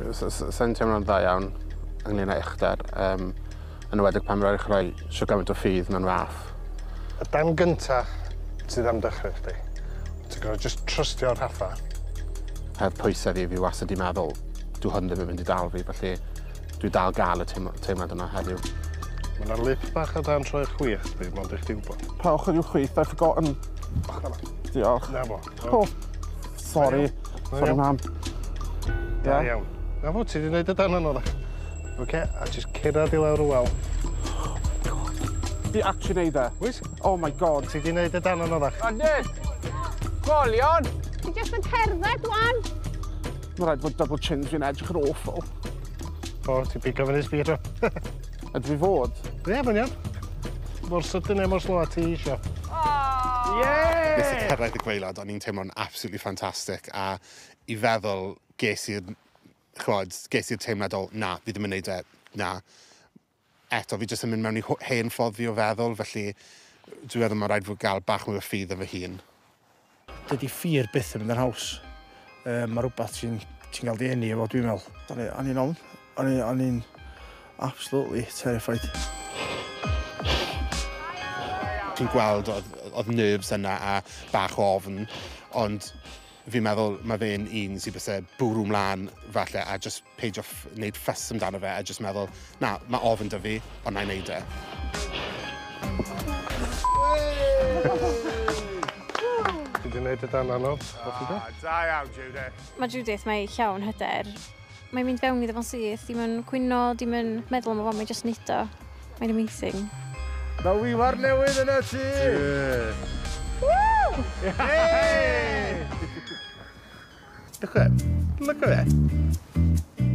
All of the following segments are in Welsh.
Sa'n teimlo'n dda iawn ynglyn â uchder, um, yn ywedig pan rhaid chreu sio gymaint o ffydd mewn fath. Y dan gynta sydd am dychryn chdi. Ti'n gwybod, just trystio Rhaffa. Heb pwysau fi, fi wastad di meddwl, dwi hwn ddim yn mynd i dal fi, felly dwi dal gael y teimlad yma heddiw. Mae yna lip bach o dan troi'r chwith, fi, mond eich di wybod. Pa ochr yw chwith? I've forgotten. Ochr yma. Diolch. Na fo. O, sori. Sori, mam. Da iawn. Na fo, ti wedi gwneud y dan yno, da. OK, a jyst cyrraedd i lawr y wal. Di actually neud e. Wyt? Oh my god. Ti wedi neud y dan yno, da. Adid! Golion! Ti jyst yn cerdded, wan. Mae'n rhaid fod double chins fi'n edrych yn awful. O, ti pigo fyny speed o. Ydw i fod? Ie, mae'n iawn. Mor sydyn neu mor slo a ti eisiau. Oh! Yeah! Nes i cyrraedd y gweilad, o'n i'n teimlo'n absolutely fantastic, a i feddwl ges i'r, chwod, ges i'r teimlad o, na, fi ddim yn neud e, na. Eto, fi jyst yn mynd mewn i hen ffodd fi o feddwl, felly dwi'n meddwl mae'n rhaid fwy gael bach mwy o ffydd yn fy hun. Dydy ffyr byth yn mynd yn haws. Um, mae rhywbeth ti'n ti cael dy enni efo, dwi'n meddwl. O'n i'n ofn. O'n i'n absolutely terrified. Ti'n gweld oedd, oedd nerves yna a bach o ofn, ond fi'n meddwl mae fe'n un sy'n bysau bwrw mlaen falle a just peidio wneud ffys amdano fe a jyst meddwl, na, mae ofn dy fi, ond na i wneud e. Ti wedi wneud y dan anodd, Da, da iawn, Judith. Mae Judith, mae llawn hyder. Mae'n mynd fewn iddo fo'n syth, dim yn cwyno, dim yn meddwl am y fo, mae'n just neud o. Mae'n amazing. Mae wiwar newydd yn y tŷ! Woo! Hey! Look at it. Look at it.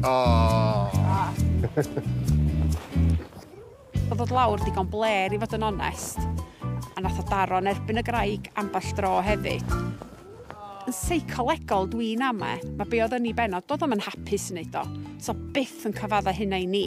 Oh. Oedd dod lawr digon bler i fod yn onest, a nath o daro yn erbyn y graig ambell dro hefyd. Yn seicolegol dwi'n ame, mae be oedd yn ei benod, doedd o'm yn hapus yn neud o, so byth yn cyfadda hynna i ni.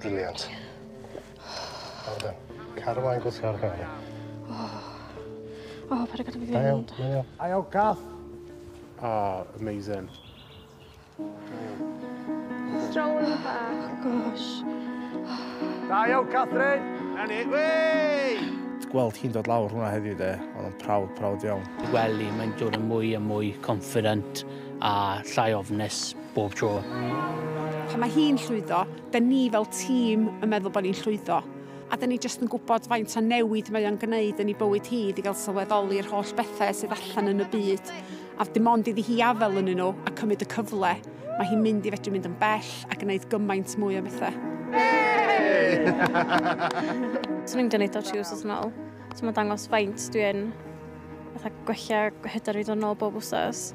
Brilliant. Well done. Caru mlaen gwthio ar gael. O, paid â gadael fi fynd. Da iawn, da iawn. Aio gath. Ah, amazing. Stroll bach. Gosh. Da iawn, Catherine. Na ni. Wey! Gweld hi'n dod lawr hwnna heddiw de, ond yn prawd, prawd iawn. Weli, mae'n dod yn mwy a mwy confident a llai ofnus bob tro. Pan mae hi'n llwyddo, Da ni fel tîm yn meddwl bod ni'n llwyddo, a da ni jyst yn gwybod faint o newid mae o'n gwneud yn ei bywyd hi iddi gael sylweddoli'r holl bethau sydd allan yn y byd, a dim ond iddi hi afael yn nhw a cymryd y cyfle, mae hi'n mynd i fedru mynd yn bell a gwneud gymaint mwy o bethau. Swn i'n gwneud o tri wsos yn ôl, so mae'n dangos faint dwi'n fatha gwella hyder fi ddod yn ôl bob wsos.